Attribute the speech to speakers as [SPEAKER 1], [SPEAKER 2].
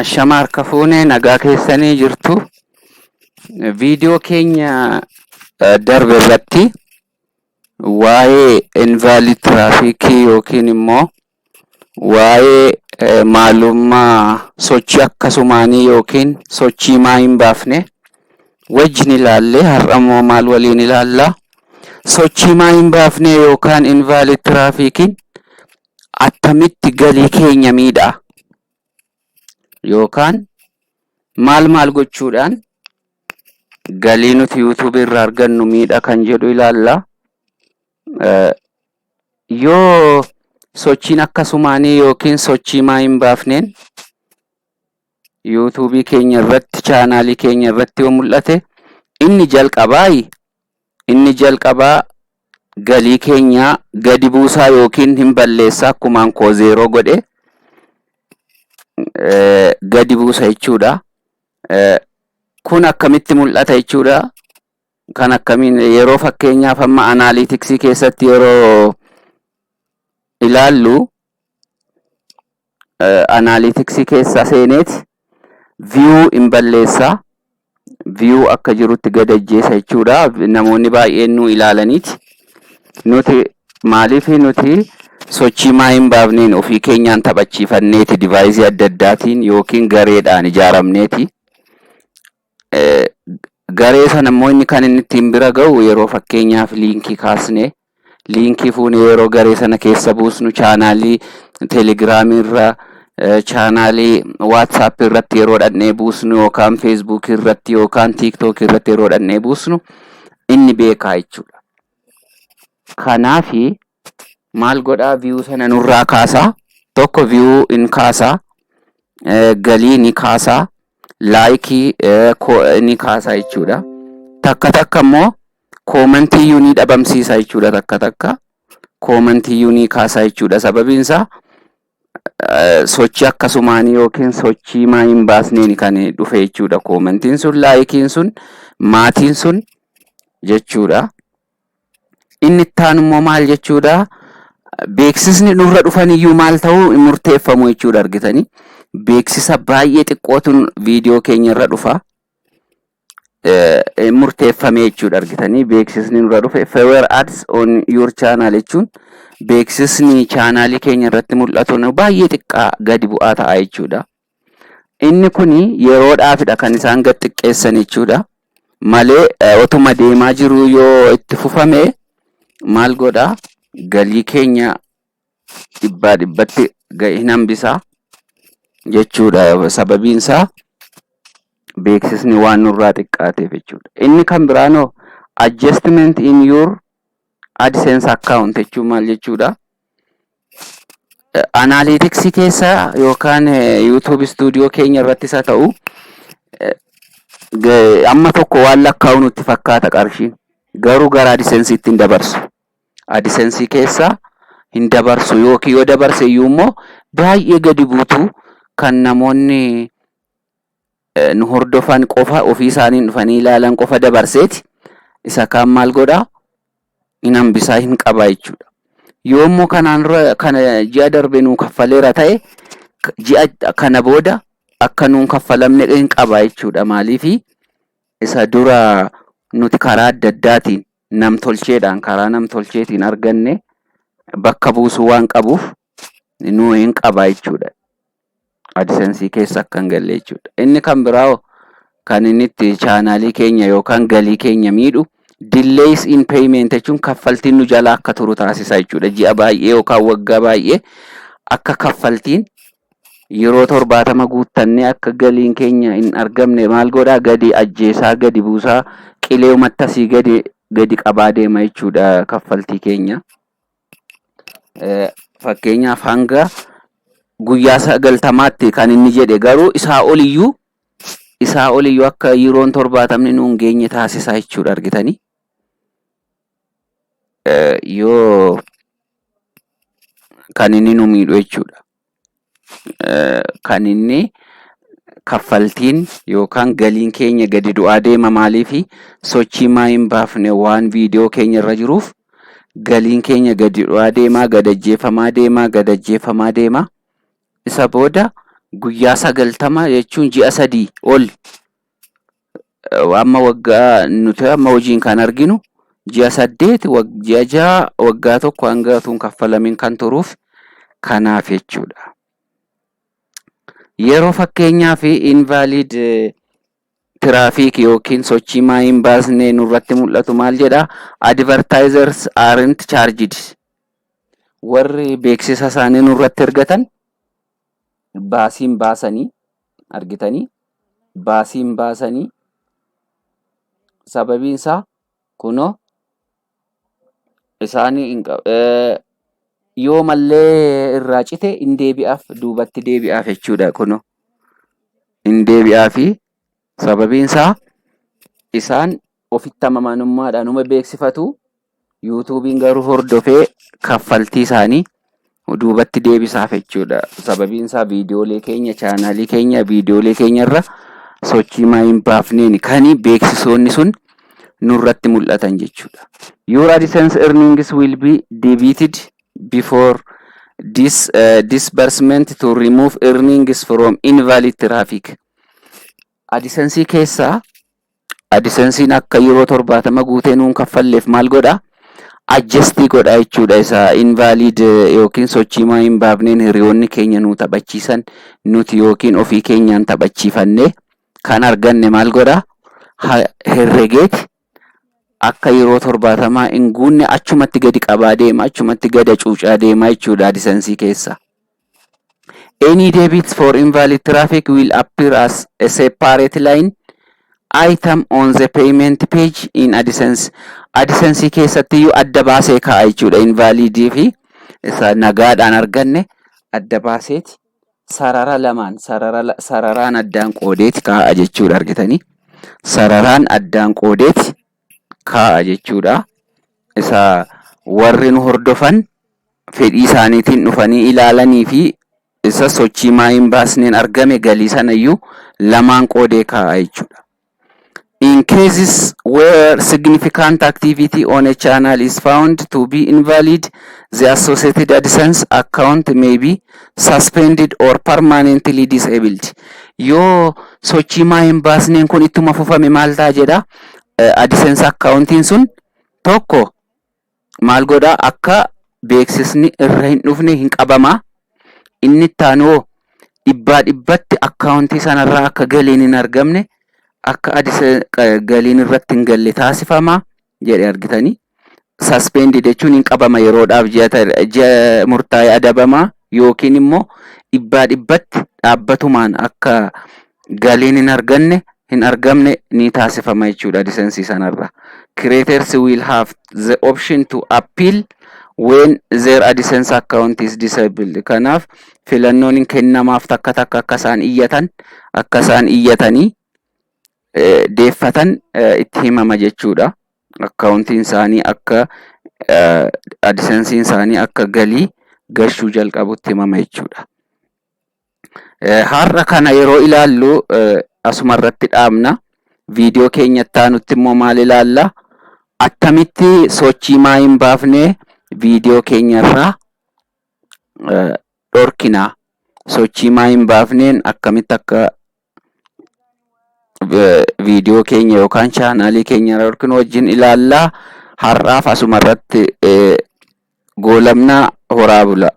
[SPEAKER 1] Ashama harka fuune nagaa keessanii jirtu. Viidiyoo keenya eh, darbe irratti waa'ee invaalid tiraafikii yookiin immoo waa'ee eh, maalummaa sochii akkasumaanii yookiin sochii maa hin baafne wajjin ilaalle har'ammoo maal waliin ilaalla sochii maa hin baafne yookaan invaalid tiraafiikiin attamitti galii keenya miidha yookaan maal maal gochuudhaan galii nuti yuutuubii irraa argannu miidha kan jedhu ilaalla Eh, yoo sochiin akkasumaanii yookiin sochii maa hin baafneen YouTube keenya irratti chaanaalii keenya irratti yoo mul'ate inni jalqabaa inni jalqabaa galii keenyaa gadi buusaa yookiin hin balleessaa akkumaan koo zeeroo godhe eh, gadi buusa jechuudha. Eh, kun akkamitti mul'ata jechuudha. Kan akkamiin yeroo fakkeenyaaf amma anaaliitiksii keessatti yeroo ilaallu analytics keessa seeneeti view hin balleessa view akka jirutti gad ajjeesa jechuudha namoonni baay'een nu ilaalaniiti nuti maaliif nuti sochii maa hin baafneen ofii keenyaan taphachiifanneeti divaayizii adda addaatiin yookiin gareedhaan ijaaramneeti garee sana immoo inni kan inni ittiin bira ga'u yeroo fakkeenyaaf liinkii kaasnee Liinkii fuunee yeroo garee sana keessa buusnu chaanaalii telegiraamii irra chaanaalii waatsaap irratti yeroo dhaqnee buusnu yookaan feesbuukii irratti yookaan tiiktookii irratti yeroo dhaqnee buusnu inni beekaa jechuudha. Kanaaf maal godhaa viyuu sana nurraa kaasaa tokko viyuu in kaasaa galii ni kaasaa laayikii ni kaasaa jechuudha. Takka takka immoo koomantiyyuu ni dhabamsiisa jechuudha takka takka koomantiyyuu ni kaasa jechuudha sababiin isaa eh, sochii akkasumaanii yookiin sochii maa hin baasneen kan dhufe jechuudha koomantiin sun laayikiin sun maatiin sun jechuudha inni itti aanu immoo maal jechuudha beeksisni nurra dhufan iyyuu maal ta'uu hin murteeffamu jechuudha argitanii beeksisa baay'ee xiqqootu viidiyoo keenya irra dhufa eh, murteeffame jechuudha argitanii beeksisni nurra dhufe fewer ads on your channel jechuun beeksisni chaanaalii keenya irratti mul'atu nu baay'ee xiqqaa gadi bu'aa ta'a jechuudha. Inni kun yeroodhaafidha kan isaan gad xiqqeessan jechuudha. Malee eh, otuma deemaa jiruu yoo itti fufame maal godha galii keenya dhibbaa dhibbatti ga'e hin hambisa jechuudha. Sababiin isaa beeksisni waan nurraa xiqqaateef jechuudha. Inni kan biraan hoo adjustment in your AdSense account jechuun maal jechuudha? Analytics keessa yookaan YouTube studio keenya irrattis haa ta'u amma tokko waan lakkaa'u nutti fakkaata qarshiin garuu gara AdSense ittiin dabarsu. adisensii keessa hin dabarsu yookiin yoo dabarse iyyuu immoo baay'ee gadi buutu kan namoonni eh, nu hordofan qofa ofii isaaniin dhufanii ilaalan qofa dabarseeti isa kaan maal godha hin hambisaa hin qabaa jechuudha. Yoo immoo kanaan dura kana ji'a darbe nuu kaffaleera ta'e k- ji'a kana booda akka nuun kaffalamne hin qabaa jechuudha maaliifi isa dura nuti karaa adda addaatiin namtolcheedhaan karaa namtolcheetiin arganne bakka buusuu waan qabuuf nu hin qaba jechuudha. Adisensii keessa akka hin galle jechuudha. Inni kan biraa hoo kan inni itti chaanaalii keenya yookaan galii keenya miidhu delays in payment jechuun kaffaltiin nu jala akka turu taasisa jechuudha. Ji'a baay'ee yookaan waggaa baay'ee akka kaffaltiin yeroo torbaatama guuttannee akka galiin keenya hin argamne maal godhaa gadi ajjeesaa gadi buusaa qilee umatta sii gadi gadi qabaa deema jechuudha kaffaltii keenya. Eh, Fakkeenyaaf hanga guyyaa sagaltamaatti kan inni jedhe garuu isaa oliyyuu isaa oliyyuu akka yeroon torbaatamni nuun geenye taasisaa jechuudha argitanii. yoo kan inni nu miidhu jechuudha. Kan inni kaffaltiin yookaan galiin keenya gadi bu'aa deema maaliifi sochii maa hin baafne waan viidiyoo keenya irra jiruuf galiin keenya gadi bu'aa deemaa gad ajjeefamaa deemaa gad ajjeefamaa deemaa isa booda guyyaa sagaltama jechuun ji'a sadii ol amma waggaa nuti amma hojiin kan arginu ji'a saddeet wag- ji'a ja'a waggaa tokko hanga utuu hin kaffalamin kan turuuf kanaaf jechuudha. Yeroo fakkeenyaa fi invalid tiraafiik yookiin sochii maa hin baasne nurratti mul'atu maal jedha advertisers aren't charged warri beeksisa isaanii nurratti ergatan baasiin baasanii argitanii baasii hin baasanii sababiin isaa kunoo isaanii hin qab- eh, yoo mallee irraa cite hin deebi'aaf duubatti deebi'aaf jechuudha kunoo hin deebi'aafi sababiin isaa isaan ofitti amamanummaadhaan uma beeksifatu. Yuutuubiin garuu hordofee kaffaltii isaanii duubatti deebisaaf jechuudha. Sababiin isaa viidiyoolee keenya chaanaalii keenya viidiyoolee keenya irra sochii maa hin baafneen kan beeksisoonni sun nurratti mul'atan jechuudha. Your AdSense earnings will be debited before this uh, disbursement to remove earnings from invalid traffic. AdSense keessaa Adisensiin akka yeroo torbaatama guutee nuun kaffalleef maal godha? Adjustii godha jechuudha isa invalid yookiin sochiimaa hin baafneen hiriyoonni keenya nuu taphachiisan nuti yookiin ofii keenyaan taphachiifanne kan arganne maal godha? Ha herregeeti akka yeroo torbaatamaa hin guunne achumatti gadi qabaa deema achumatti gada cuucaa deema jechuudha adisansii keessa. Any debits for invalid traffic will appear as a separate line item on the payment page in AdSense. AdSense keessatti iyyuu adda baasee kaa'a jechuudha. Invalid fi isa nagaadhaan arganne adda baaseeti sarara lamaan sarara la- sararaan addaan qoodeeti kaa'a jechuudha argitanii. Sararaan addaan qoodeeti kaa'a jechuudha. Isa warri nu hordofan fedhii isaaniitiin dhufanii ilaalanii fi isa sochii maayiin baasneen argame galii sanayyuu lamaan qoodee kaa'a jechuudha. In cases where significant activity on a channel is found to be invalid, the associated AdSense account may be suspended or permanently disabled. Yoo sochii maayiin baasneen kun ittuma fufame maal ta'a jedha? AdSense akkaawuntiin sun tokko maal godhaa akka beeksisni irra hin dhufne hin qabamaa inni itti aanuu dhibbaa dhibbatti akkaawuntii sanarraa akka galiin hin argamne akka galiin irratti hin galle taasifamaa jedhe argitanii suspended jechuun hin qabama yeroodhaaf ji'a murtaa'e adabama yookiin immoo dhibbaa dhibbatti dhaabbatumaan akka galiin hin arganne hin argamne ni taasifama jechuudha lisensii sanarra. Creators will have the option to appeal when their AdSense account is disabled. Kanaaf filannoon hin kennamaaf takka takka akka isaan iyyatan akka isaan iyyatanii deeffatan itti himama jechuudha. akkaawuntiin isaanii akka adisansiin isaanii akka galii gashuu jalqabutti himama jechuudha. Har'a kana yeroo ilaallu asuma irratti dhaabna. Viidiyoo keenya itti aanutti immoo maal ilaalla? Attamitti sochii maa hin baafne viidiyoo keenya irraa dhorkina? Sochii maa hin baafneen akkamitti akka viidiyoo keenya yookaan chaanaalii keenya irra yookiin wajjin ilaallaa har'aaf asuma irratti goolabnaa horaa bulaa.